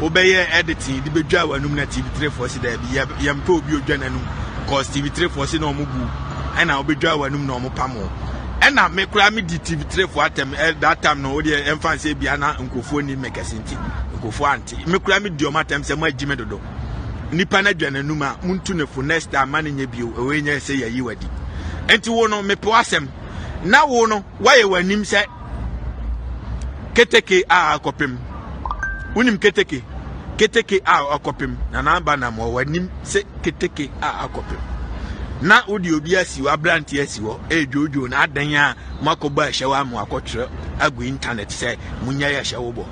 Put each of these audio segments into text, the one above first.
wobɛyɛ editing de bedwa w'anum na tv trefoɔ si daabi yɛ yɛmpɛ obi odwa n'anum cause tv trefoɔ si na wɔn bu ɛna wobɛdwa w'anum na wɔn pam wɔn ɛna me koraa me di tv trefoɔ atɛm ɛ that time no wodeɛ ɛmfa nsɛ bia na nkurɔfoɔ ni me kɛse nti nkurɔfoɔ ante me koraa me di wɔn atɛm sɛ mo agyi me dodo nipa no adwa n'anum a montu ne fo next time ma ne nyɛ bio ɛwɔ nyɛ sɛ yɛyi wadi nti wo no mepɛ w'asɛm na wo no woayɛ w'anim sɛ Keteke a akɔpem. Wonim keteke? Keteke a akɔpem. Na n'aba nam wɔ w'anim sɛ keteke a akɔpem. Na wode obi asi hɔ, aberante asi hɔ, ɛredwoodwoo na adɛn a moakɔbɔ ahyɛw a moakɔtwerɛ agu intanɛt sɛ monya yɛ ahyɛwo bɔ.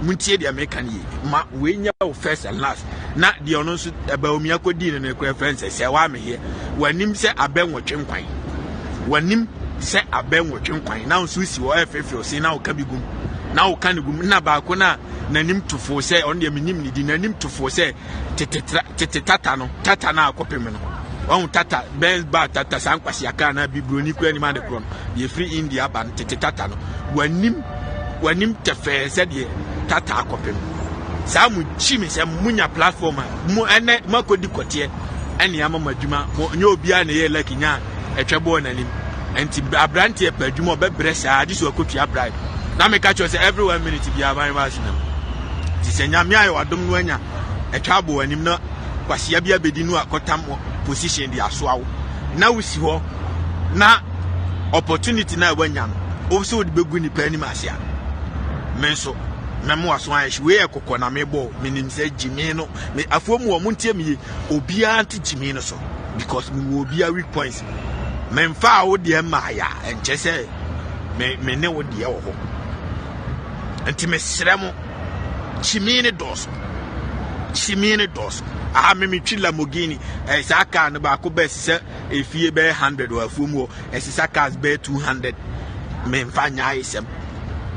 Montie deɛ meka no yie. Ma wei nyɛ wo first and last. Na deɛ ɔno nso ɛbɛwo mi akɔdii no no korɛ frɛ nsɛ sɛ wame yɛ w'anim sɛ abɛ nwɔtwe nkwan w'anim sɛ abɛ nwɔtwe nkwan na nso si hɔ ɛfefew se na woka bi gum na woka ne gum na baako no a n'anim tofoo sɛ ɔno deɛ menim ne di n'anim tofoo sɛ tete tata no tata no a kɔpem no ɔhu tata bɛn ba tata saa nkwasiaka anaa bibroni kura anim ade korɔ no deɛ ɛfiri india aba no tete tata no w'anim w'anim tɛfɛɛ sɛdeɛ tata akɔpem saa mo kyi me sɛ monya platform a mo ɛnɛ moakɔdi kɔteɛ ɛne ama mo adwuma mo nyɛ obiara na ɛyɛ laki nya ɛtwɛ boɔ n'anim nti aberanteɛ pɛ adwuma ɔbɛbrɛ saa agye so akɔtua bribe na meka kyerɛ sɛ every one minute biara ban wa so nam nti sɛ nyame ayɛ wadom no anya ɛtwa boɔ anim na kwasia bi abɛdi no akɔtam position de asoa wo na wosi hɔ na opportunity na wanya no wo sɛ wode bɛgu nipa anim ase a me nso mɛmo aso ayɛ hye wei yɛ kɔkɔ na mebɔ menim sɛ gyimi no me afoɔ mu wɔn ntie me yie obiara nte gyimi no so because me wɔ obiara weak points me nfa a wo deɛ mmaa ya nkyɛ sɛ me me ne wo deɛ wɔ hɔ nti me srɛ mo gyimi ne dɔɔso gyimi ne dɔɔso aha me metwi lamogini ɛyɛ eh, saa car no baako bɛɛ sisɛ efie bɛyɛ hundred wɔ afuo mu hɔ ɛsisa cars bɛyɛ two hundred me nfa nya ayɛ sɛm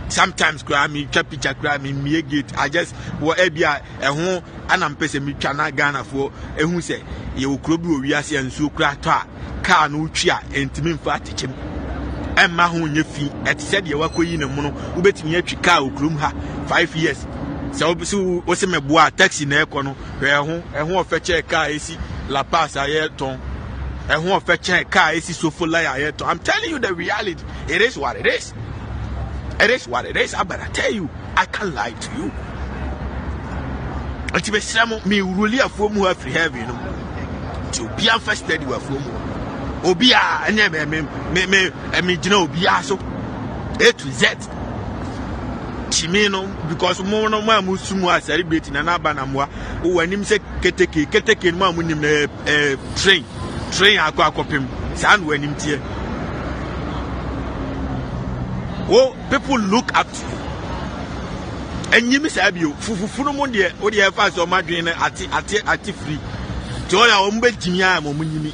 sometimes koraa metwa picture koraa me mmie gate i just wɔ ɛbi a. Ɛho a na mpɛ sɛ metwa na Ghanafoɔ ɛhu sɛ yɛwɔ kuro bi wɔ wiase a nsuo kura tɔ a kaa no wotwi a ɛntumi mfa atekyem ɛmma ho nyɛ fi ɛte sɛ deɛ wakɔyi ne mono wobɛtumi atwi kaa wɔ kurom ha 5 years sɛ wobɛsi wo se mɛboa a taxi na ɛkɔ no hwɛ ɛho ɛho ɔfɛ kyɛɛ kaa ɛsi La Paz a yɛtɔn ɛho ɔfɛ kyɛɛ kaa ɛsi Sofolai a yɛtɔn I'm telling you the reality it is what it is it is what it is abara tell you I can't lie to you. Nti mesrɛ mo me wuruli afuo mu hɔ afiri heaven no mu. Nti obiara mfa steady wɔ afuo mu hɔ. Obiara ɛnyɛ me me me me megyina obiara so A to Z. Kyimi no because mo no mo a mo su mu a celebrate na n'aba na moa wɔ anim sɛ keteke keteke no mo a mo nim na ɛɛ eh, eh, train train akɔ akɔpem saa na wɔ anim teɛ. Wo People look up to you. Ɛnyɛ mi saa bio. Fufufu no mu deɛ, o deɛ ɛfa sɛ wɔn adwene no ate ate ate firi. Te wɔn a wɔn bɛ gyimi a wɔn nyimi.